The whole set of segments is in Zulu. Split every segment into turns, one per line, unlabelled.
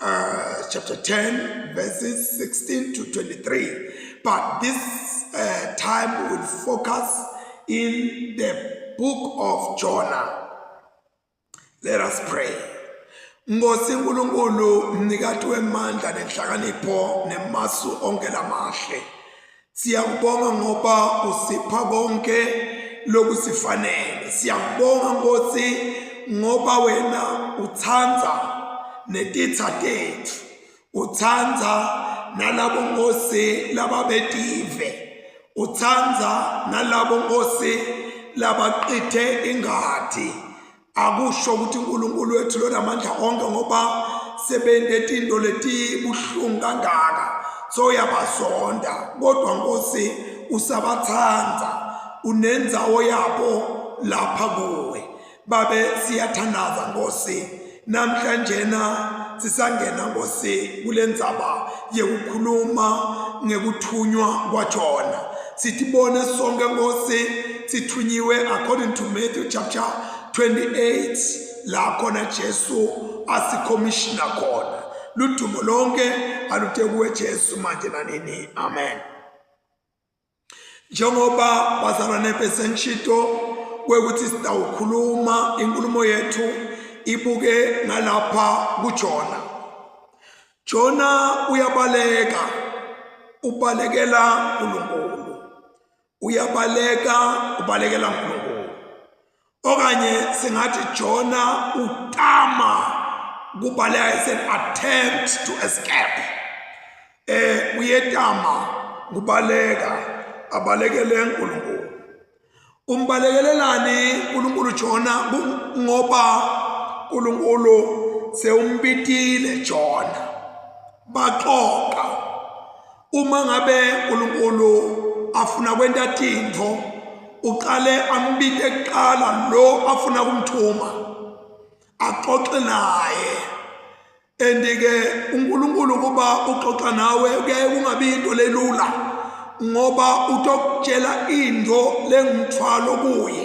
uh, chapter 10, verses 16 to 23. But this uh, time will focus in the book of Jonah. Let us pray. Ngosi Nkulunkulu mnikati wemandla nenhlakanipho nemasu onke lamahle. Siyakubonga ngoba usipha konke lokusifanele. Siyakubonga Nkosi ngoba wena uthanda netitha tethu. Uthanda nalabo Nkosi lababetive. Uthanda nalabo Nkosi labaqithe ingadi. akusho ukuthi uNkulunkulu wethu lona amandla onke ngoba sebendetinto letibuhlungu kangaka so yabazonda kodwa Nkosi usabathanda unenzawo yabo lapha kuwe babe siyathandaza Nkosi namhlanje na sisangena Nkosi kulendzaba yekukhuluma ngekuthunywa kwaJona sitibone sonke Nkosi sithunyiwe according to Matthew chapter 28 la khona Jesu asikhomishina khona ludumo lonke aluthe kuwe Jesu manje nanini amen njengoba bazalwane besengishito kwekuthi sitawukhuluma inkulumo yethu ibuke ngalapha kujona jona uyabaleka ubalekela unkulunkulu uyabaleka ubalekela uNkulunkulu okanye singathi Jona utama kubaleka is an attempt to escape eh uyetama kubaleka abalekele uNkulunkulu umbalekelelani uNkulunkulu Jona ngoba uNkulunkulu sewumpitile Jona baxoxa uma ngabe uNkulunkulu afuna kwenta tintfo uqale ambite kuqala lo afuna kumthuma axoxe naye andike uNkulunkulu kuba uxoxa nawe kuyaye kungabi into lelula ngoba utokutshela into lengumthwalo kuye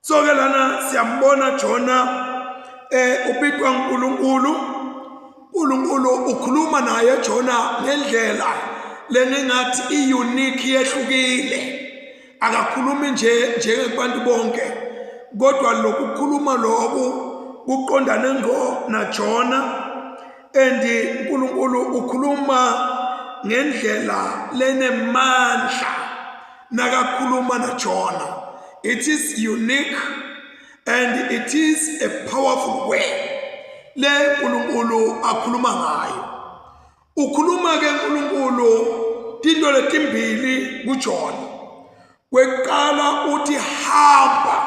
so ke lana siyambona jona eh ubitwa uNkulunkulu uNkulunkulu ukhuluma naye jona ngendlela leningathi iunique yehlukile akakhulumi nje njengebantu bonke kodwa lokukhuluma lokho kuqondane ngo najona and uNkulunkulu ukhuluma ngendlela lenemandla nakakhuluma najona it is unique and it is a powerful way le nkulunkulu akhuluma ngayo ukhuluma ke nkulunkulu tinto letimbili kujona kwekuqala uthi hamba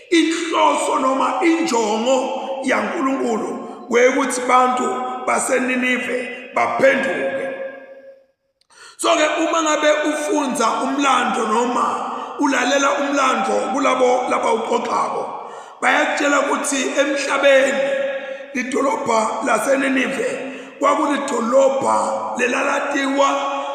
Inhloso noma injongo yaNkulunkulu kweyukuthi abantu baseNinive baphenduke. So ke uma ngabe ufunza umlando noma ulalela umlando kulabo laba uxoxako bayakutshela ukuthi emhlabeni idolobha laseNinive kwakulidolobha lelalatiwa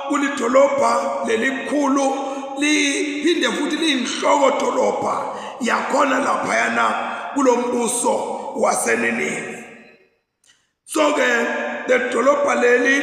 kulidolobha lelikhulu liphinde futhi liyinhloko dolobha yakhona laphayana kulo mbuso waseninivi so-ke leli dolobha leli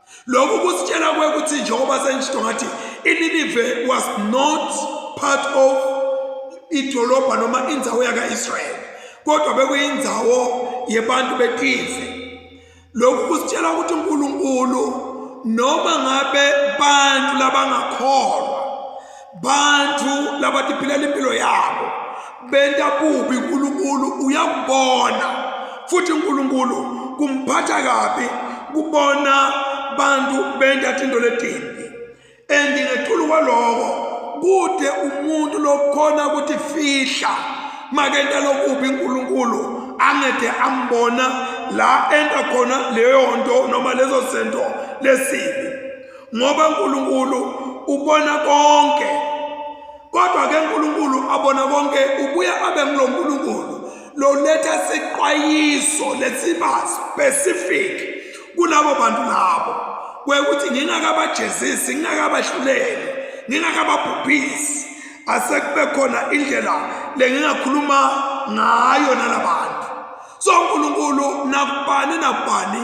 lokhu kusitshela kwe ukuthi njengoba sengisho ngathi ininive was not part of idolobha noma indawo yaka-israyeli kodwa bekuyindawo yebantu betize lokhu kusitshela ukuthi unkulunkulu noma ngabe bantu labangakholwa bantfu labatiphilela impilo yabo benta kubi nkulunkulu uyakubona futhi nkulunkulu kumphatha kabi kubona bantu benta tinto letimbi and ngetulu kwaloko kute umuntu lokhona kutifihla makenta lokubi nkulunkulu angede ambona la enta khona leyo nto noma lezo zinto lesibi ngoba uNkulunkulu ubona konke kodwa ke uNkulunkulu abona konke ubuye abe nguloNkulunkulu loletha siqwayiso lesiba specific kulabo bantu labo kwekuthi ngingakabajezisi ngingakabahluleli ngingakababhubhisi asekube khona indlela lengingakhuluma ngayo nalabantu so uNkulunkulu nakubani nakubani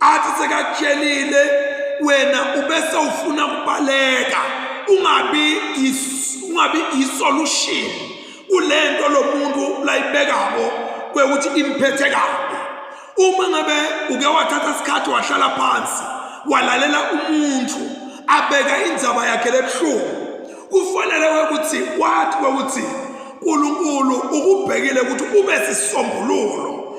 athi sekakutshelile wena ubese ufuna kubaleka ungabi ungabi isolution kulento lomuntu layibekako kwekuthi imphethe kabi uma ngabe uke wathatha isikhathi wahlala phansi walalela umuntu abeka indzaba yakhe lebuhlungu kufanele kwekuthi wathi kwekuthi uNkulunkulu ukubhekile ukuthi ube sisombululo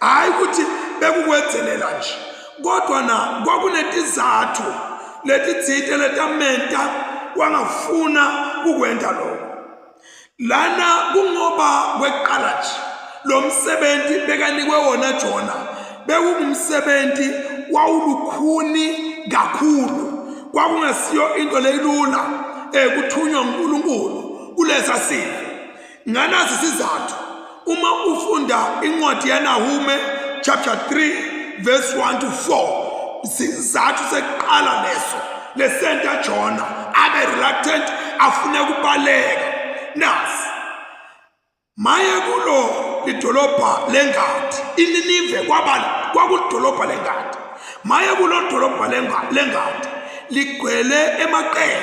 hhayi ukuthi bekukwenzelela nje kodwa na kwakunetizathu letitsite letamenta wangafuna ukwenta lokho lana kungoba kweqala nje lo msebenzi bekanikwe wona jona bekungumsebenzi wawulukhuni kakhulu kwakungesiyo into leyilula um kuthunywa unkulunkulu kulesa simo Nganazi isizathu uma ufunda incwadi yaNahume chapter 3 verse 1 to 4 isizathu sekuqala leso lesenta Jona abe reluctant afune kubaleka nasi maye kulo idolobha lengadi ininive kwaba kwakudolobha lengadi maye kulo dolobha lengadi ligcwele emaqele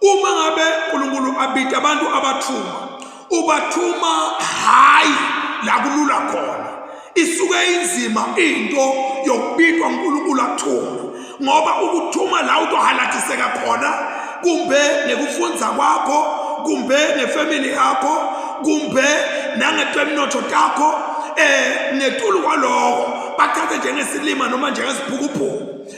uma ngabe uNkulunkulu abida abantu abathuma ubathuma hayi la kulula khona isuke inzima into yokubidwa uNkulunkulu athuma ngoba ukuthuma la utohalatiseka khona kumbe ngekufunza kwakho kumbe ngefamily yakho kumbe nangetemnotho takho eh ngetulu kwaloko bathathe njengesilima noma njengesibhukubhuku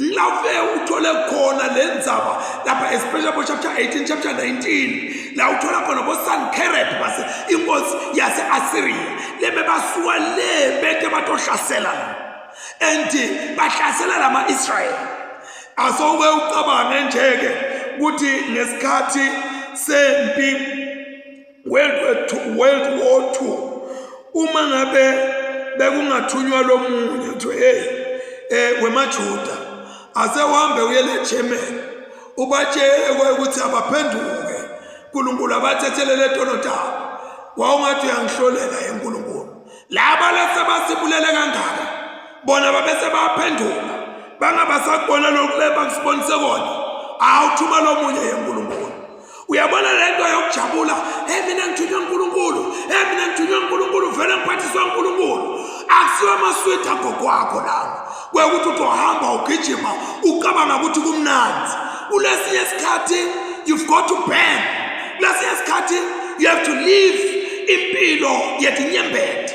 Ngilave uthole khona le ndzaba lapha especially bo chapter 18 chapter 19 la uthola khona bo Sankerib base inkosi yase Assyria lebebasuka le bete batohlasela and bahlasela lama Israel asoke ucabange nje ke ukuthi ngesikhathi sempi World War II, World War II uma ngabe bekungathunywa lo munye kuthiwe hey eh wemaJuda ase uhambe uye le German ubatshele ukuthi abaphenduke uNkulunkulu abathethelele etonotaba wawungathi uyangihlolela eNkulunkulu laba lesebasibulele kangaka bona babese baphendula bangabasakubona lokhu lebakusibonise kona awuthuma lomunye yenkulunkulu uyabona le nto yokujabula hey mina ngithunywe unkulunkulu hey mina ngithunywe unkulunkulu vele ngiphathiswa unkulunkulu akusiwo amaswidi agokwakho lawo kwekuthi uzohamba ugijima ucabanga ukuthi kumnandi kulesinye isikhathi you've got to burn kulesinye isikhathi you have to live impilo yetinyembeti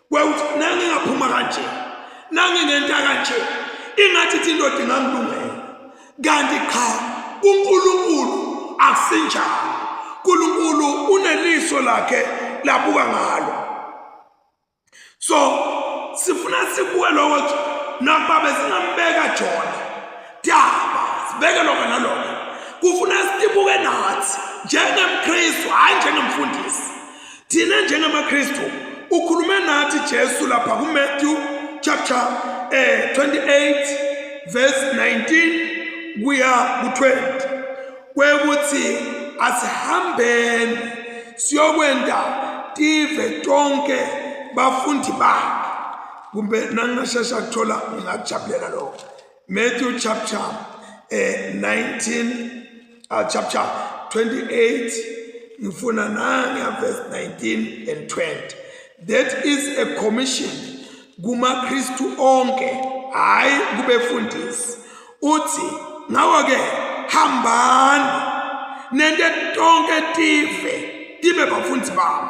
kweuthi nangingaphuma kanje nanginento kanje ingathi ithi indoda ingangilungela kanti qha kuNkulunkulu akusinjalo uNkulunkulu uneliso lakhe labuka ngalo so sifuna sibuke lokho ukuthi nakuba besingambeka jona daba sibeke lokho nalokho kufuna sibuke nathi njengemkristu hhayi njengemfundisi Thina njengamaKristu ukhulume nathi Jesu lapha kuMatthew chapter eh 28 verse 19 kuya ku20 kwekuthi asihambeni siyokwenda tive tonke bafundi bakhe kumbe nangashesha kuthola ngingakujabulela lokho Matthew chapter uh, eh, 19 uh, ah, chapter 28 ngifuna nanga verse 19 and 20 that is a commission kuma Kristu onke hayi kubefundisi uthi ngawo ke hambani nende tonke tive tibe bafundisi bami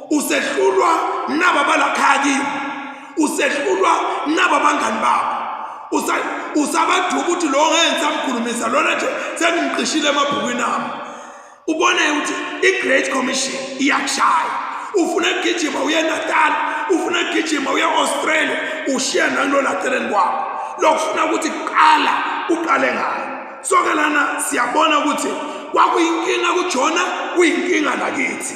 usehlulwa naba balakhaki usehlulwa naba bangani bakho usabathuka ukuthi lo ngeke ngisamkhulumisa lona nje sengimqishile emabhukwini ami ubone ukuthi i-great commission iyakushaya ufuna ukugijima uye natal ufuna ukugijima uye australia ushiya nangilolatheleni kwakho lokufuna ukuthi kuqala uqale ngayo soke lana siyabona ukuthi kwakuyinkinga kujona kuyinkinga nakithi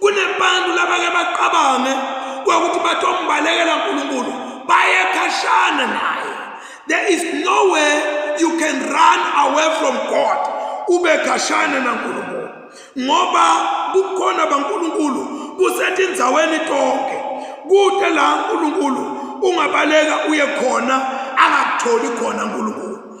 kunebantu labake bacabange kwakuthi batombalekela uNkulunkulu baye khashana naye there is no way you can run away from God ube khashana naNkulunkulu ngoba kukhona baNkulunkulu kusetindzaweni tonke kude la uNkulunkulu ungabaleka uye khona angakutholi khona uNkulunkulu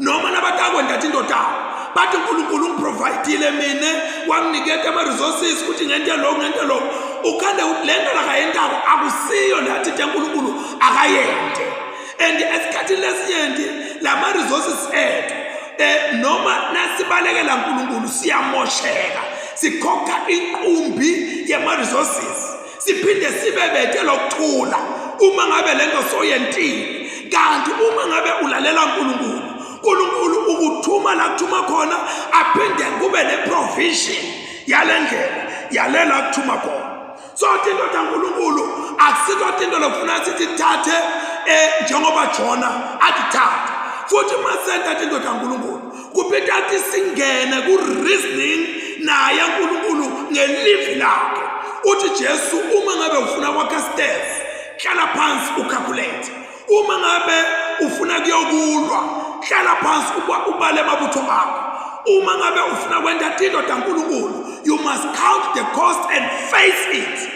noma nabatakwe ndathi indodana bathi unkulunkulu ungiprovayidile mina wanginiketa ama-resources ukuthi ngente loku ngente loku ukhande ukuthi le nto lakayentako akusiyo le athithe nkulunkulu akayente and esikhathini lesinyenti la ma-resources ethu um noma nasibalekela nkulunkulu siyamosheka sikhokha inqumbi yema-resources siphinde sibe bete lokuthula uma ngabe lento soyentile kanti uma ngabe ulalela uNkulunkulu uNkulunkulu ukuthuma la kuthuma khona aphinde kube neprovision yalendlela yalela kuthuma khona so into kaNkulunkulu akusikho into lokufuna sithi thathe eh njengoba Jona atithatha futhi masenta into kaNkulunkulu kubheda athi singene ku-reasoning naye unkulunkulu ngelivi lakhe uthi jesu uma ngabe ufuna kwakha stairs hlala phansi ucalculate uma ngabe ufuna kuyokulwa hlala phansi ubale amabutho akho uma ngabe ufuna kwenta tindoda nkulunkulu you must count the cost and face it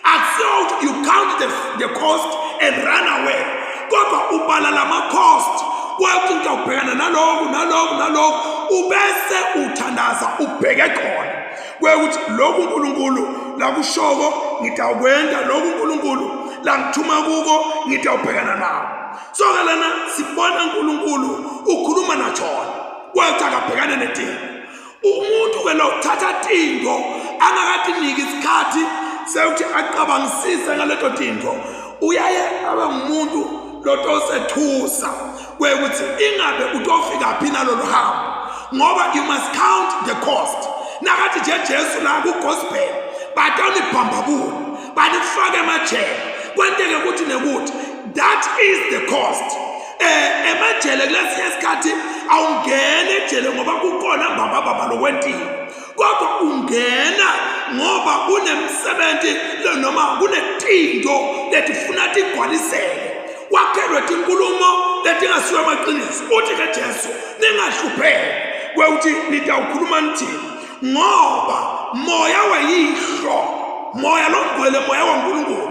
Akusiyo you count the, the cost and run away kodwa ubala lama cost kwathi into ubhekana naloku naloku naloku ubese uthandaza ubheke khona kwekuthi lokhu uNkulunkulu lakushoko ngidawukwenza lokhu uNkulunkulu langithuma kuko ngidawubhekana nawo so ke lana sibona uNkulunkulu ukhuluma naJona kwathi akabhekane nedingo umuntu ke lokuthatha tinto angakatiniki isikhathi sekuthi acabangisise ngaleto tinto uyaye abe ngumuntu lotosethusa kwekuthi ingabe utofika phi nalolu hambo ngoba you must count the cost nakathi nje jesu la kugospel batonibhambabula banifake emajele kwenteke ukuthi nekuthi that is the cost eh emajele kulesi esikhathi awungene ejele ngoba kukhona baba baba lokwentini kodwa ungena ngoba kunemisebenzi noma kunetinto letifuna tigwaliseke wakhelwe tinkulumo letingasiyo amaqiniso uthi ke Jesu ningahlupheki kweuthi nitawukhuluma nithini ngoba moya weyihlo moya longcwele moya waNkulunkulu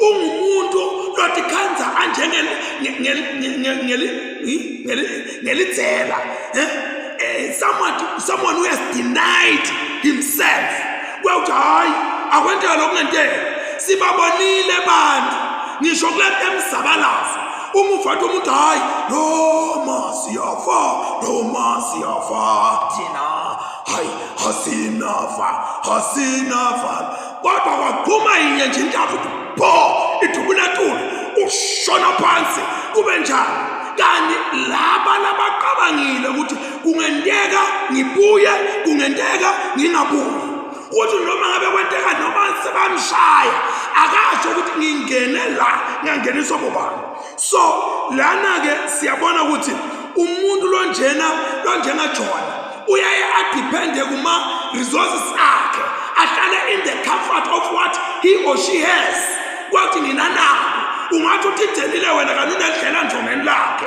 ungumuntu lotikhandza anjengelidzela eh? eh, someone who has denied himself kwewuthi hhayi akwenteka lokungenteka sibabonile bantu ngisho kule emzabalazo uma uvathi umuntu hhayi noma siyafa noma siyafa thina hhayi asinafa asinafa kodwa kwaqhuma inye nje intambo pho idubunatula ushona phansi kube njalo kanti laba labaqabangile ukuthi kungenteka ngibuye kungenteka ngingabuyi ukuthi noma ngabe kwenteka noma sebamshaya akasho ukuthi ngingene la ngangeniswa bobani so lana-ke siyabona ukuthi umuntu lonjena lonjena jona uyaye adiphende kuma-resources akhe ahlale in the comfort of what he or she has kwathi nina nabo ungathi uthidelile wena kanunedlela njongeni lakhe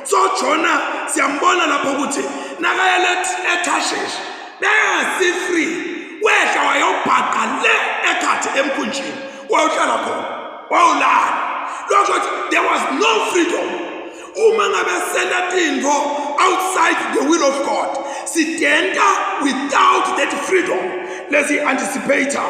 so jona siyambona lapho ukuthi nakayele ethasheshi bengasi-free wehla wayobhaqa le ekhathi emkhunjini wawuhlala khona wawulala lokho ukuthi there was no freedom uma ngabe senda tintfo outside the will of god sidenta without that freedom lesi-anticipator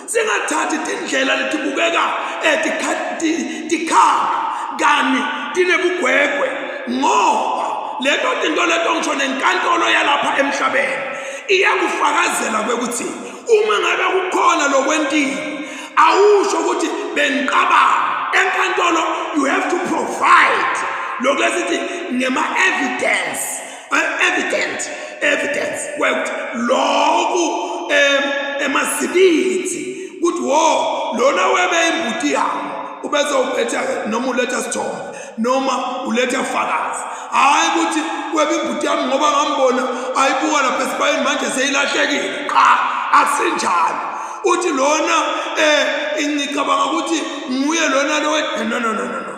singathathi tindlela letibukeka tikhanga kani tinebugwegwe ngoba leto tinto leto ngisho nenkantolo yalapha emhlabeni iyakufakazela kwekuthi uma ngabe kukhona lokwentile awusho ukuthi bengiqabanga enkantolo you have to provide lokhu esithi ngema-evidence evident evidence kwekuthi lokhu em emazibithi ukuthi wo lona webe imbuti yami ubezowuphetha noma uletha sithombe noma uletha fakazi hayi ukuthi webe imbuti yami ngoba ngambona ayibuka lapha esibayeni manje seyilahlekile qha asinjalo uthi lona eh ingicabanga ukuthi nguye lona lo no no no no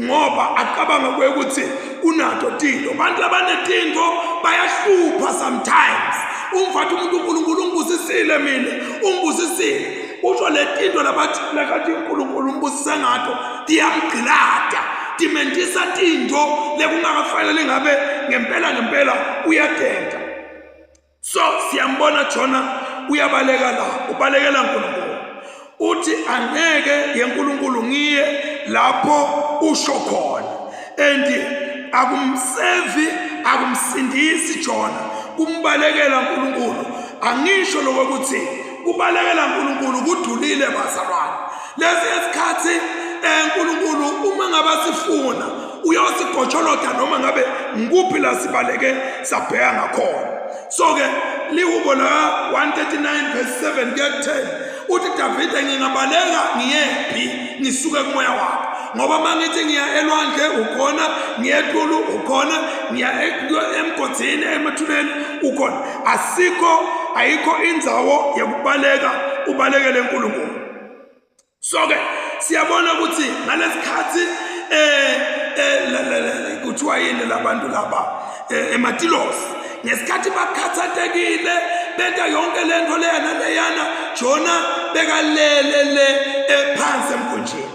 ngoba acabanga kuye ukuthi unato tinto abantu labanetinto bayahlupha sometimes umfathi umuntu unkulunkulu ungibusisile mina ungibusisile usho le tinto labathi lakathi unkulunkulu umbusise ngato tiyamgqilada timentisa tinto lekungakafanele ngabe ngempela ngempela uyadenda so siyambona jona uyabaleka la ubalekela nkulunkulu uthi angeke yenkulunkulu ngiye lapho usho khona and akumsevi akumsindisi jona kumbalekela nkulunkulu angisho lokho ukuthi kubalekela nkulunkulu kudulile bazalwane Lesi isikhathi eh, uNkulunkulu uma ngabe sifuna uyosigotsholoda noma ngabe ngikuphi la sibaleke sabheka ngakhona so ke lihubo la 139 verse 7 kuya 10 uthi Davide ngingabaleka ngiyephi ngisuke kumoya wakho ngoba uma ngithi ngiya elwandle ukhona ngiya etulu ukhona ngiya emgodini emathuneni ukhona asikho ayikho indzawo yokubaleka ubalekele uNkulunkulu so ke siyabona ukuthi ngalesikhathi eh, eh kuthiwa yini labantu laba eh, ematilosi ngesikhathi bakhathatekile benta yonke lento leyana leyana jona bekalele le eh, phansi emkhunjini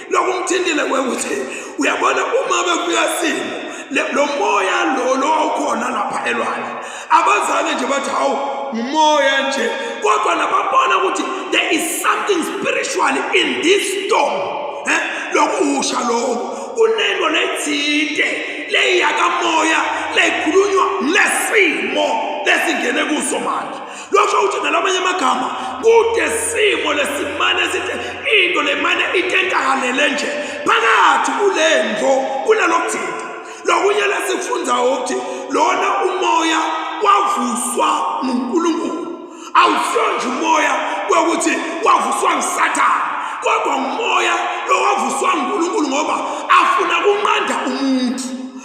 lokhu ngithintile kuwe ukuthi uyabona uma befika simo lo moya lo lo wawukhona lapha elwandle abazange nje bathi hawu ngumoya nje kodwa nababona ukuthi there is something spiritual in this storm eh lokusha lokho kunento lethinte leyiyakamoya leyikhulunywa lesimo lesingene kuso manje losho ukuthi ngalamanye amagama kude simo lesimane esithe into lemane itentakalele nje phakathi kule ndlo kunalokuthinta lokunye lesikufundayo ukuthi lona umoya wavuswa ngunkulunkulu awusiyo nje umoya kweukuthi wavuswa ngusathane kodwa ngumoya lowavuswa ngunkulunkulu ngoba afuna kunqanda umuntu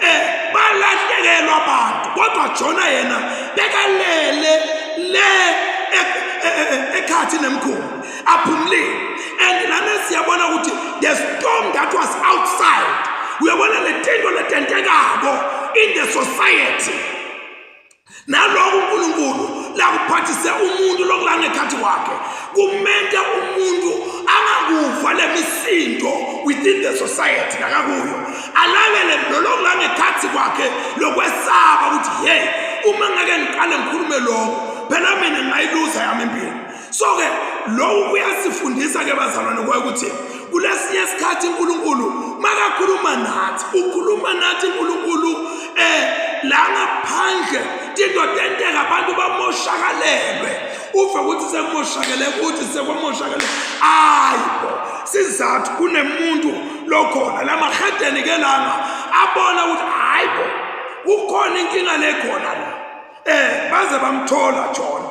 eh balahlekelwa abantu kodwa Jona yena bekalele le ekhathi nemkhulu aphumulile and lana siyabona ukuthi the storm that was outside uyabona le tinto letentekayo in the society naloko uNkulunkulu lakuphathise umuntu lokulangekhathi wakhe kumenta umuntu angakuva lemisindo within the society nakakuyo alangele lolokulangekhathi kwakhe lokwesaba ukuthi hey uma ngake ngiqale ngikhulume lokho phela mina ngayiluza yami impilo so ke lokhu kuyasifundisa ke bazalwane kwaye ukuthi kulesinye isikhathi uNkulunkulu makakhuluma nathi ukhuluma nathi uNkulunkulu eh la ngaphandle into tenteka abantu bamoshakalelwe uve ukuthi sekumoshakele ukuthi sekwamoshakele ayibo sizathu kunemuntu lokhona la mahedeni ke langa abona ukuthi hayibo kukhona inkinga lekhona la eh baze bamthola jona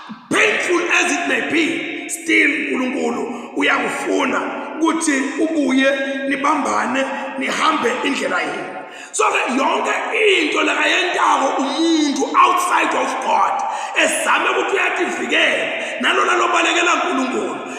Painful as it may be, still uNkulunkulu uyakufuna ukuthi ubuye nibambane nihambe indlela yenu. So ke yonke into lekayentako umuntu outside of God ezame ukuthi uyativikela nalona lobalekela uNkulunkulu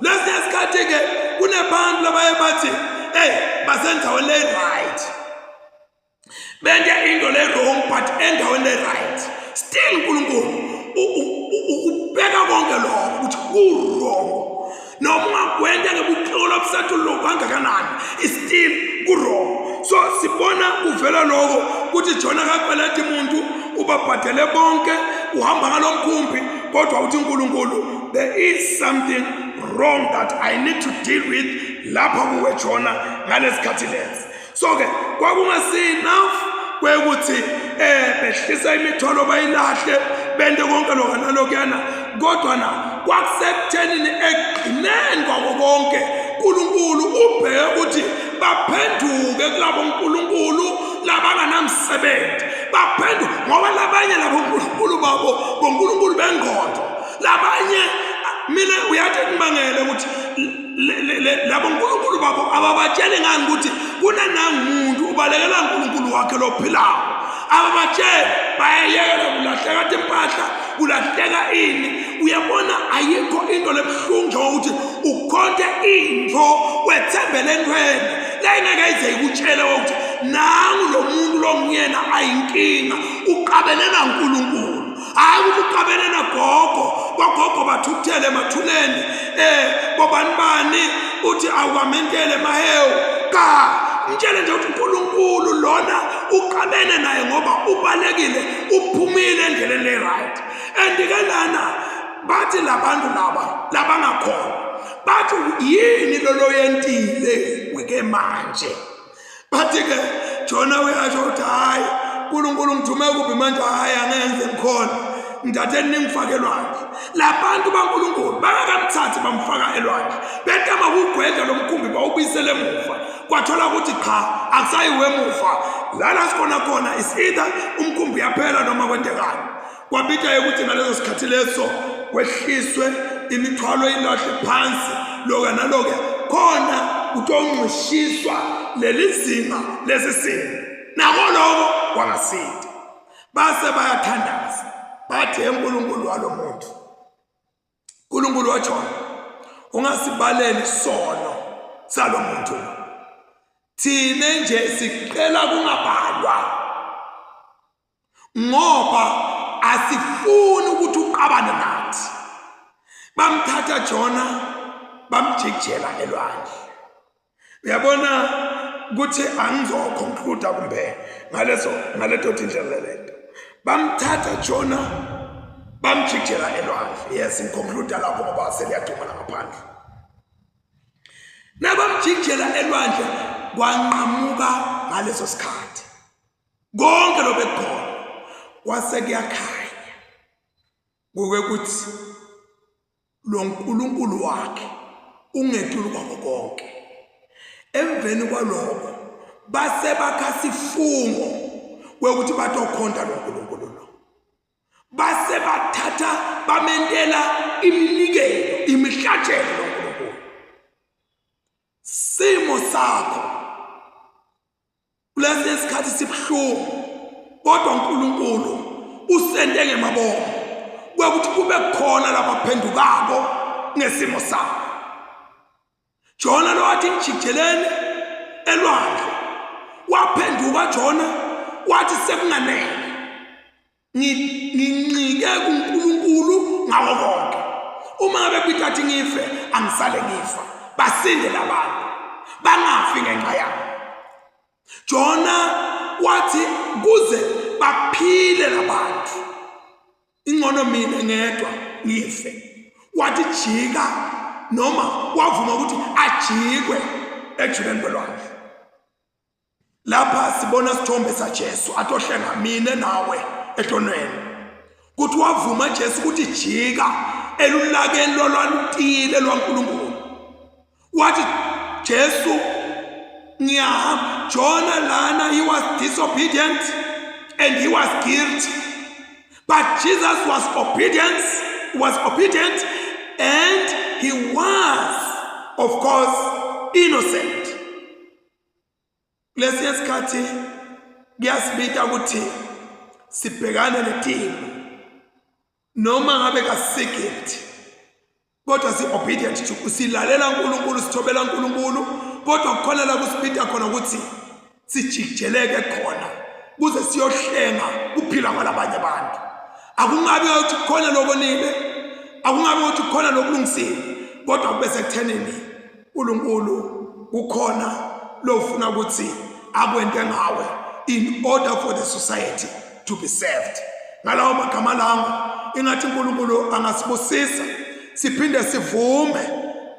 Lesinye isikhathi-ke kunebantu labaye bathi eyi basendaweni le-right bente into le-wrong but endaweni le-right still unkulunkulu ukubheka konke lokho ukuthi ku-wrong noma ungakwenta ngebuxolo obusathi lokhu angakanani still ku-wrong so sibona kuvela lokho ukuthi jona kakweleta umuntu ubabhadele bonke uhamba ngalo mkhumbi kodwa uthi unkulunkulu there is something wrong that i need to deal with lapha kuwe jona ngalesikhathi lesi so ke kwakungasenough kwekuthi eh behlisa imithwalo bayilahle bente konke lokho nalokuyana kodwa na kwakusekuthenini ekugcineni kwako konke uNkulunkulu ubheke ukuthi baphenduke kulabo uNkulunkulu labanganamsebenzi baphenduke ngoba labanye labo uNkulunkulu babo ngoNkulunkulu bengqondo labanye mina uyathi ngibangele ukuthi labo nkulunkulu babo ababatsheli ngani ukuthi kunanangumuntu ubalekela nkulunkulu wakhe lophilayo ababatsheli bayayekela kulahleka kade impahla kulahleka ini uyabona ayikho into lebuhlungu njengokuthi ukhonte into wethembele entweni leyingeke ize ikutshele ukuthi nangu lo muntu longuyena ayinkinga uqabelena nkulunkulu hayi ukuthi uqabene nagogo kwagogo bathukuthele emathuneni um eh, bobani bani uthi awukamentele mahewu ka mtshele nje ukuthi unkulunkulu lona uqabene naye ngoba ubalekile uphumile endleleni le-right and-ke lana bathi labantu laba labangakhona bathi yini loloyentile wike manje bathi ke jona uyasho ukuthi hhayi nkulunkulu ngithume kuphi manje hhayi angenze ngikhona ngithathe ningifake elwandle labantu bankulunkulu bangakamthathi bamfaka elwandle betama kugwedla lo mkhumbi bawubuyisele emuva kwathola ukuthi qha akusayiwe emuva lana sikhona khona is either umkhumbi uyaphela noma kwentekani kwabithayo ukuthi ngaleso sikhathi leso kwehliswe imithwalo ilahle phansi loka naloka khona kutongqishiswa leli zinga lesi simo nako loko kwangasindi base bayathandaza bathi enkulunkulu walo muntu nkulunkulu wajona ungasibaleli sono salo muntu thina nje siqela kungabalwa ngoba asifuni ukuthi uqabane nathi bamthatha jona bamjikjela elwandle uyabona kuthi angizoconcluda kumbe ngaleso ngaleto tindlela lento bamthatha jona bamjikjela elwandle yes ngiconcluda lapho ngoba seliyadumala ngaphandle nabamjikjela elwandle kwanqamuka ngaleso sikhathi konke lobekhona kwase kuyakhanya ngoke kuthi lo nkulunkulu wakhe ungethulu kwako konke emveni kwaloko base bakha sifungo kwekuthi batokhonta lo nkulunkulu lo base bathatha bamentela iminikelo imihlatshelo lo nkulunkulu simo sakho kulesi esikhathi sibuhlungu kodwa uNkulunkulu usende ngemabomo kwekuthi kube khona labaphendukako ngesimo sabo Jona lowathi ngijijeleni elwandle waphenduka Jona wathi sekunganele nginqike kuNkulunkulu ngawo konke uma ngabe kwithathi ngife angisale ngifa basinde labantu bangafi ngenxa yami Jona wathi kuze baphile labantu ingcono mina ngedwa ngife wathi jika noma wavuma ukuthi ajikwe ejuleni kwelwandle lapha sibona isithombe saJesu atohlenga mina nawe ehlonweni kuthi wavuma Jesu ukuthi jika elulakeni lolwalutile lwaNkulunkulu wathi Jesu ngiyahamba Jona lana he was disobedient and he was guilty but Jesus was obedient was obedient and he was of course innocent kulesi esikhathi kuyasibita ukuthi sibhekane netima noma ngabe kasikilti kodwa si-obedient to silalela unkulunkulu sithobela unkulunkulu kodwa kukhona la kusibita khona ukuthi sijijeleke khona kuze siyohlenga kuphila kwalabanye abantu akungabi ukuthi khona lokonile akungabi ukuthi khona lokulungisile kodwa kube sekuthenini uNkulunkulu kukhona lofuna ukuthi akwente ngawe in order for the society to be served ngalawo magama lawo ingathi uNkulunkulu angasibusisa siphinde sivume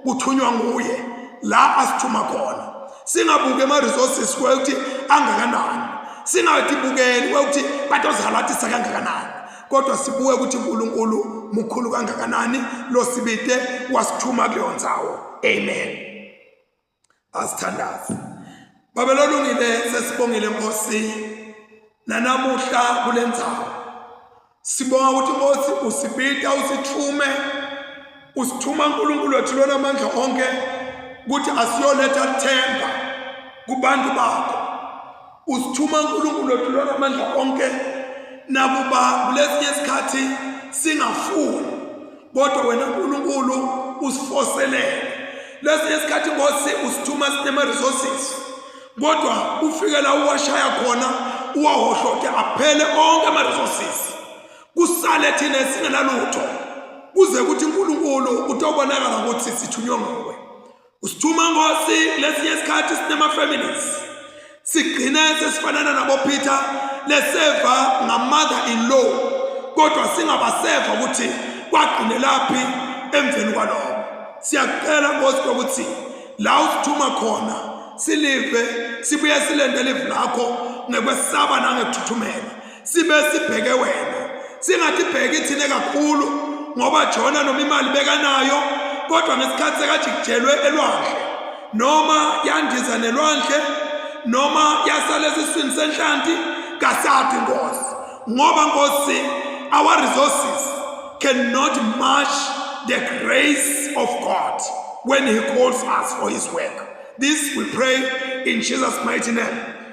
kuthunywa nguye la asithuma khona singabuke ama resources kwekuthi angakanani singathi bukeni kwekuthi batozalathisa kangakanani kodwa sibuke ukuthi uNkulunkulu mukhulu kangakanani losibite wasithuma kuleyo ndzawo amen asithandaze babe lolungile sesibongile nkosi nanamuhla kule ndzawo sibonga ukuthi nkosi usibita usithume usithuma uNkulunkulu wethu lona amandla onke ukuthi asiyoletha themba kubantu bakho Usithuma uNkulunkulu wethu lona amandla onke nakuba kulesinye isikhathi singafuni kodwa wena uNkulunkulu usifoselele lesinye isikhathi ngosi usithuma sinema resources kodwa ufike la uwashaya khona uwahohloke aphele onke ama resources kusale thina singenalutho kuze ukuthi uNkulunkulu utobonakala ukuthi sithunywe nguwe Usithuma ngosi lesinye isikhathi sinema families sigcine sesifanana nabo Peter leseva nga mother in law kodwa singabaseva ukuthi kwagcine laphi emveni kwaloko siyacela ngosi ukuthi la usithuma khona silive sibuye silendele ivu lakho ngekwesaba nangethuthumela sibe sibheke wena singathi bheki thine kakhulu ngoba jona noma imali bekanayo kodwa ngesikhathi sekajikijelwe elwandle noma yandiza nelwandle noma yasala esiswini senhlanti kasadi nkosi ngoba nkosi our resources cannot match the grace of god when he calls us for his work this we pray in jesus mighty name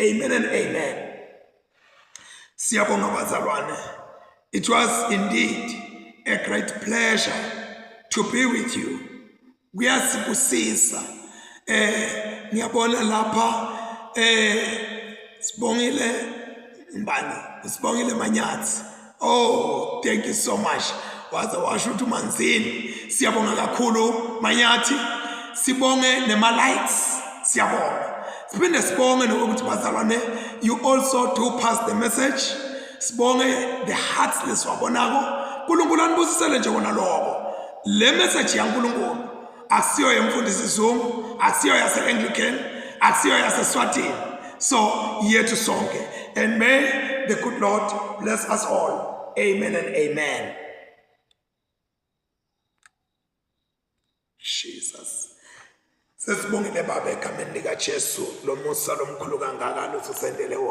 Amen and amen. Siyabonga bazalwane. It was indeed a great pleasure to be with you. Kuyasibusisa. Eh ngiyabona lapha eh sibongile mbani sibongile manyathi Oh, thank you so much. Waze washo ukuthi umanzini. Siyabonga kakhulu Manyathi. Sibonge nema likes. Siyabonga. Siphinde sibonge nokuthi bazalwane you also do pass the message. Sibonge the hearts leswabonako. uNkulunkulu anibusisele nje kona lokho. Le message yaNkulunkulu akusiyo yemfundisi Zungu akusiyo yase Anglican akusiyo yase Swatini so yethu sonke and may the good Lord bless us all amen and amen Jesus sesibongile baba egameni likaJesu lomusa lomkhulu kangaka losisendele wona